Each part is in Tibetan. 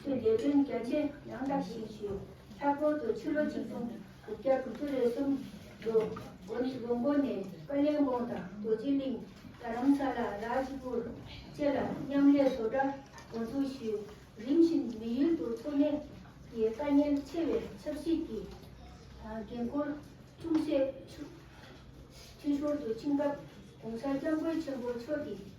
ཚོས་ལས་དོན་རྒྱ་ཆེ་ཡང་དག་ཞིག་ཞུས། མཐའ་སྐོར་དུ་ཕྱི་ལོ་ཆིག་སྟོང་དགུ་བརྒྱ་དགུ་ཅུ་རེ་གསུམ་ལོ་སྒོ་ནི་ལོ་མགོ་ནས་ཀ་ལན་དགོང་དང་རྡོ་རྗེ་གླིང། རྡ་རམ་ས་ལ Raj Pur། བཅས་ལ་མཉམ་ལས་བཟོ་གྲྭ་འགོ་འཛུགས་ཞུས། རིམ་བཞིན་མི་ཡུལ་དུ་འཚོ་གནས་ཀྱི་དཀའ་ཉེན་ཆེ་བའི་ཆབ་སྲིད་ཀྱི་འགན་ཁུར་ཅུང་ཟད་འཕྲི་ཞོར་དུ་ཕྱིན་སྐབས ྋགོང་ས ྋསྐྱབས་མགོན་ཆེན་པོ་མཆོག་གིས།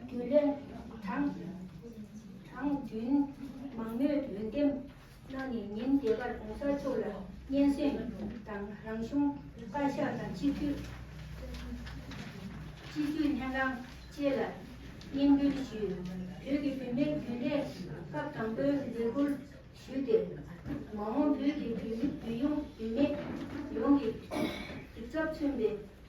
རྒྱུ་ལས། གྲངས་བདུན། མང་མོས་འོས་འདེམས་གནང་ནས་ཉིན་འདས་པར་གོང་གསར་ཚོགས་ལ་སྙན་སེང་དང་རང་གཞུང་བཀའ་ཤག་དང་སྤྱི་འཐུས་སྤྱི་འཐུས་ལྷན་ཁང་བཅས་ལ་སྙན་འབུལ་ཞུས། བོད་ཀྱི་བུད་མེད་རྒྱུན་ལས་སྐབས་དང་པོའི་ལས་འཁུར་ཞུས་ཏེ། མ་འོངས་བོད་ཀྱི་བུ་བུ་ཡོངས་བུད་མེད་ཡོངས་ཀྱི་གདུག་རྩབ་མཚོན་པའི་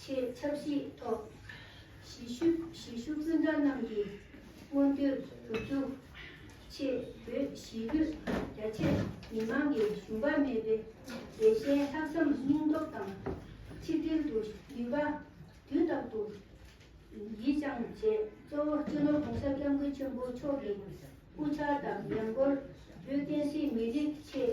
ཆེད་ཆབ་སྲིད་ཐོག་གཞིས་བཞུགས་སྤུན་ཟླ་རྣམས་ཀྱི་མངོན་འདོད་སྒྲུབ་རྒྱུ་ཆེད་བོད་གཞིས་ལུས་རྒྱ་ཆེ་མི་མང་གི་ཞུམ་པ་མེད་པའི་རྒྱལ་ཞེན་ལྷག་བསམ་སྙིང་སྟོབས་དང་ཆིག་སྒྲིལ་དུ་ནུས་པ་དུས་རྟག་ཏུ་ཡིད་བཅངས་བྱས་གཙོ་བོ་སྤྱི་ནོར་གོང་ས་སྐྱབས་མགོན་ཆེན་པོ་མཆོག་གི་སྐུ་ཕྱྭ་དང་ཉམས་སྐོར་བོད་བསྟན་སྲིད་མི་རིགས་ཆེད་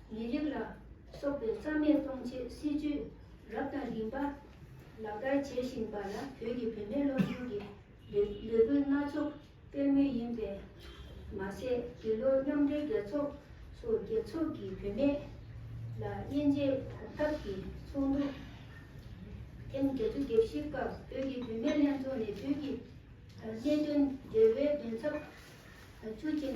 མི་རིགས་ལ་སོགས་པའི་རྩ་མེད་གཏོང་ཆེད་སྲིད་ཇུས་རབ་དང་རིམ་པ་ལག་བསྟར་བྱེད་བཞིན་པ་ལ་བོད་ཀྱི་བུད་མེད་སློབ་ཆུང་གི་ལས་འགུལ་སྣ་ཚོགས་སྤེལ་མུས་ཡིན་པས། མ་ཟད་འདི་ལོ་མཉམ་འབྲེལ་རྒྱལ་ཚོགས་སུ་རྒྱལ་ཚོགས་ཀྱི་བུད་མེད་ལ་དབྱེ་འབྱེད་གོམ་སྟབས་ཀྱི་ཚོགས་འདུ་ཐེངས་བརྒྱད་ཅུ་བརྒྱད་བཞི་སྐབས་བོད་ཀྱི་བུད་མེད་ལྷན་ཚོགས་ནས་དུས་ཀྱི་གནད་དོན་འབྲེལ་བའི་འགན་ཚབ་ཇུས་ཆེན་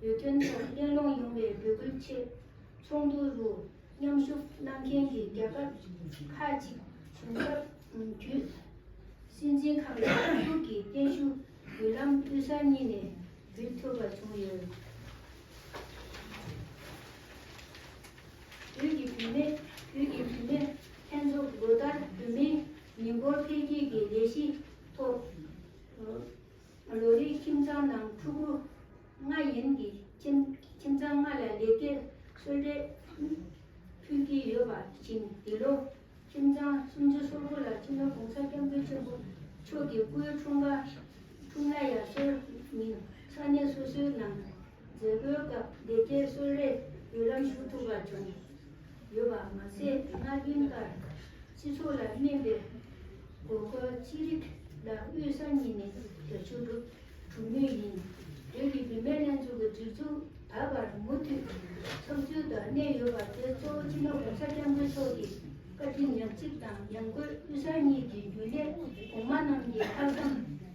བོད་དོན་ཐོག་གླེང་སློང་ཡོང་བའི་འབོད་སྐུལ་ཆེད། ཚོགས་འདུ་རུ་མཉམ་ཞུགས་གནང་མཁན་གྱི་རྒྱལ་ཁབ་ཁག་ཅིག་བྱུང་སྐབས་བརྒྱུད། སྲིད་འཛིན་ཁང་གི་ཚོགས་ཞུགས་ཀྱི་སྟེང་ཞུ་འབུལ་ལམ་དབུས་ས་གཉིས་ནས་འབུལ་ཐུབ་པ་བྱུང་ཡོད། བོད་ཀྱི་བུད་མེད་བོད་ཀྱི་བུད་མེད་ལྷན་ཚོགས་ལོ་ལྟར་བུད་མེད་མི་འབོར་འཕེལ་རྒྱས་ཀྱི་ལས་གཞི་ཐོག། ལོ་རེའི་ཁྱིམ་ཚང་ནང་ཕྲུ་གུ་ལྔ་ཡན་གྱི་ཁྱིམ་ཁྱིམ་ཚང་ལྔ་ལ་ལས་ཀའི་ཚོད་ལྟའི་ཕུལ་གྱི་ཡོད་པ་བཞིན་འདི་ལོ་ཁྱིམ་ཚང་སུམ་ཅུ་སོ་དགུ་ལ་ཕྱི་ལོ་གོང་ས་སྐྱབས་མགོན་ཆེན་པོ་མཆོག་གི་སྐུའི་འཁྲུངས་སྐར་འཁྲུངས་ན་ཡང་སྲོལ་ཉིན་ས་གནས་སོ་སོའི་ནང་མཛད་སྒོའི་སྐབས་སྡེ་དགེའི་གསོལ་རས་བརྒྱུད་ལམ་ཞུ་ཐུབ་པ་བྱུང་ཡོད་པ་མ་ཟད་སྔ་རྒྱུན་ལྟར་སྤྱི་ཚོགས་ལ་སྨན་པའི་དགོས་མཁོ་ཅི་རིགས་ལ་དབུས་ས་གཉིས་ནས་རྒྱ་ཆུ་གྲུབ་གྲུབ་མུས་ཡིན། བོད་ཀྱི་བུད་མེད་ལྷན་ཚོགས་ཀྱི་སྒྲིག་འཛུགས་ད་བར་མུ་མཐུད་ཚགས་ཚུད་དུ་གནས་ཡོད་པ་དེ་གཙོ་བོ་སྤྱི་ལོ་གོང་ས་སྐྱབས་མགོན་མཆོག་གི་བཀའ་དྲིན་ཉག་གཅིག་དང་ཡང་སྒོས་དབུས་ས་གཉིས་ཀྱི་རྒྱུན་ལས་གོང་མ་རྣམས་ཀྱི་ལྷག་བསམ་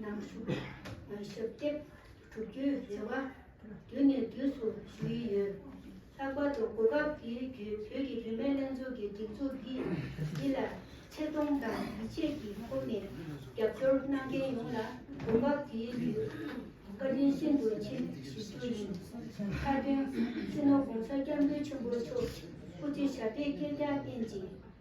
ནང་བཞུགས་ཞབས་སྟེགས་གྲུབ་རྒྱུའི་རེ་བ་དུས་ནས་དུས་སུ་ཞུ་ཡི་ཡོད། ལྷག་པར་དུ་གོ་སྐབས་དེའི་བརྒྱུད་བོད་ཀྱི་བུད་མེད་ལྷན་ཚོགས་ཀྱི་སྒྲིག་འཛུགས་འདི་འདི་ལ་ཆེ་མཐོང་དང་ཡིད་ཆེས་ཀྱི་ཁོངས་ནས་རྒྱབ་སྐྱོར་གནང་མཁན་ཡོངས་ལ་གོ་སྐབས་དེའི་བརྒྱུད་བཀའ་དྲིན་ཤིན་ཏུ་ཆེ་ཞུ་རྒྱུ་ཡིན། མཐའ་དོན། སྤྱི་ནོར ྋགོང་ས་སྐྱབས་མགོན་ཆེན་པོ་མཆོག་སྐུ་ཚེ་ཞབས་པད་བསྐལ་བརྒྱར་བརྟན་ཅིང།